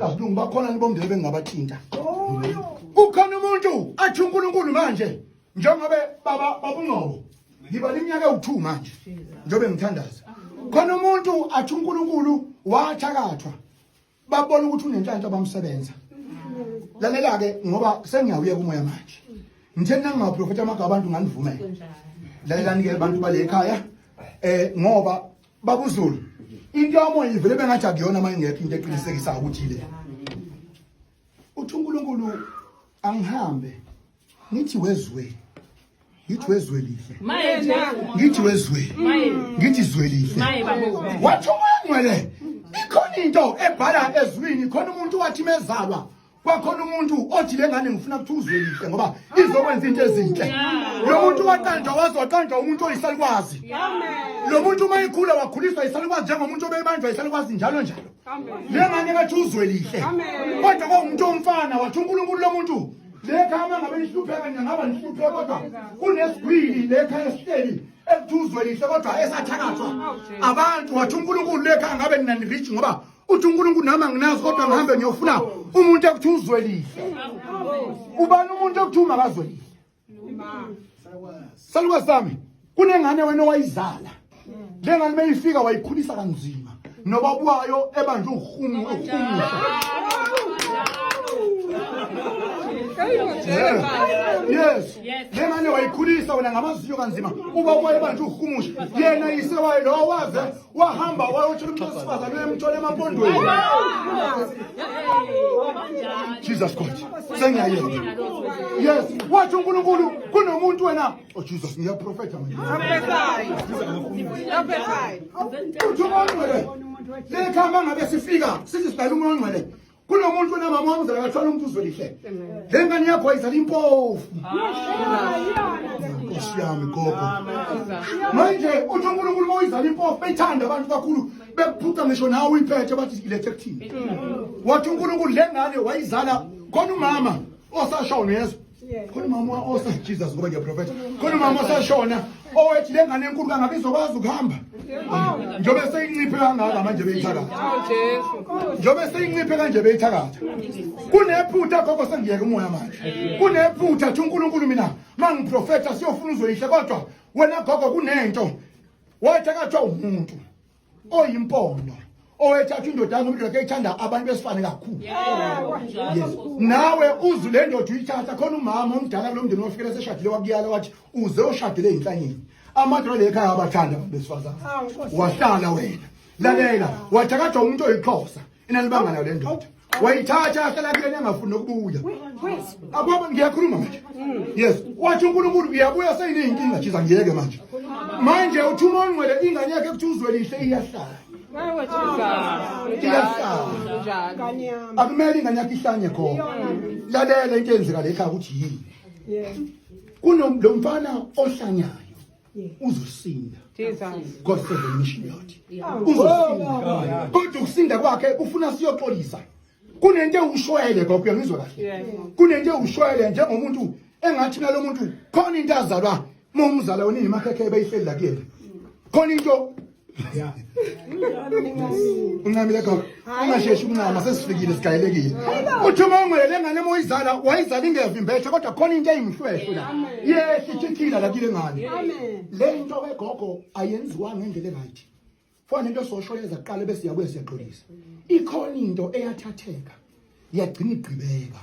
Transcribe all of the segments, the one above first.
Kasilungu bakhona nibomndeni bengingabathinta. Kukhona umuntu athi uNkulunkulu manje njengoba baba babungqobo ngiba iminyaka ewu2 manje njobe ngithandaza. Khona umuntu athi uNkulunkulu wathakathwa babona ukuthi unenhlanhla bamsebenza. Lalela ke ngoba sengiyawuye kumoya manje. Ngithe nangingaprofeta amagaba abantu nganivumela. Lalela nike abantu bale ekhaya eh ngoba babuzulu into yomoya ivele bengathi akuyona uma ingekho into eqinisekisayo ukuthi le uthi unkulunkulu angihambe ngithi wezwe ngithi wezwe lihle ngithi wezwe ngithi zwe lihle wathi umoya ngcwele ikhona into ebhala ezwini khona umuntu wathi mezalwa kwakhona umuntu othi le ngane ngifuna ukuthi uzwelise ngoba izokwenza into ezinhle lo muntu waqanjwa waze waqanjwa umuntu oyisalukwazi lo muntu uma ikhula wakhuliswa yisalukwazi njengomuntu obebanjwa yisalukwazi njalo njalo le ngane kathi uzwelihle kodwa kwawumuntu omfana wathi unkulunkulu lo muntu lekhaya uma ngabe nihlupheka nina ngaba nihlupheka kodwa kunesigwili lekhaya esihleli ekuthi uzwelihle kodwa esathakathwa abantu wathi unkulunkulu lekhaya ngabe nina nirich ngoba uthi uNkulunkulu nami anginazi kodwa ngihambe ngiyofuna umuntu ekuthi uzwelile ubani umuntu ekuthi umakazwelile salukwazi sami kunengane wena owayizala le ngane meyifika wayikhulisa kanzima noba bwayo ebanje uhumu uhumusha yes le ngane wayikhulisa wena ngamaziyo kanzima uba kwaye banje uhumusha yena yisewayo lowo waze wahamba wayotshela umuntu wesifazane uyemthola emapondweni jesus god sengiyayeka yes wathi unkulunkulu kunomuntu wena o oh, jesus ngiyaprofetha manje uthi umuntu ongcwele leli khamba ngabe sifika sithi sidala umuntu ongcwele kunomuntu onamama wamzala akathwala umuntu uzwelihle le ngane yakho ayizala impofu nkosi yami gogo manje uthi unkulunkulu uma uyizala impofu beyithanda abantu kakhulu bekuphuca ngisho nawe uyiphethe bathi ilethe kuthini wathi unkulunkulu le ngane wayizala khona umama osashawo nezwe khona umama osa jesus ngoba ngiyaprofetha khona umama osashona owethi le ngane enkulu kangabe izokwazi ukuhamba njengobe seyinciphe kangaka manje beyithakatha njengobe seyinciphe kanje beyithakatha kunephutha gogo sengiyeke umoya manje kunephutha thi unkulunkulu mina ma ngiprofetha siyofuna uzoyihle kodwa wena gogo kunento wathi akathiwa umuntu oyimpondo owethatha indoda yakho indoda eyithanda abantu besifane kakhulu yes nawe uzu le ndoda uyithatha khona umama omdala kulo mndeni wafikela seshadile wakuyala wathi uze ushadile inhlanyeni amadoda lekhaya abathanda abantu besifazana wahlala wena lalela wathakatha umuntu oyixhosa inalibanga nayo le ndoda wayithatha ahlala kuyena engafuni nokubuya akwaba ngiyakhuluma manje yes wathi unkulunkulu uyabuya seyineyinkinga jiza ngiyeke manje manje uthi uma ongcwele ingane yakhe kuthi uzwe lihle iyahlala iyahlala akumele ingane yakhe ihlanye khona lalela into eyenzeka le ekhaya ukuthi yini kunomfana ohlanyayo uzosinda god for the mission yathi uzosinda kodwa ukusinda kwakhe ufuna siyoxolisa kunento ewushwele gogo uyangizwa kahle kunento ewushwele njengomuntu engathi nalo muntu khona into azalwa uma umzala wena nemakhekhe ebeyihleli la kuyena khona into Yeah. uncamile ekhona ungasheshi uncama sesifikile sigayelekile uthi uma ungwele le ngane uma uyizala wayizala ingevimbeshe kodwa khona into eyimuhlwehlo la yehla itshithila la kile ngane le nto wegogo ayenziwa ngendlela eright fona into sosho yeza kuqala bese siyabuye siyaxolisa ikhona into eyathatheka yagcina igqibeka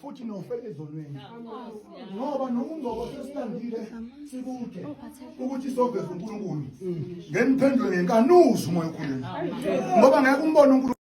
futhi nofela ezonweni ngoba noma ungcobo sesilandile sikude ukuthi soveza uNkulunkulu ngeniphendule ngenkanuzi umoya okhuluma ngoba ngeke umbone uNkulunkulu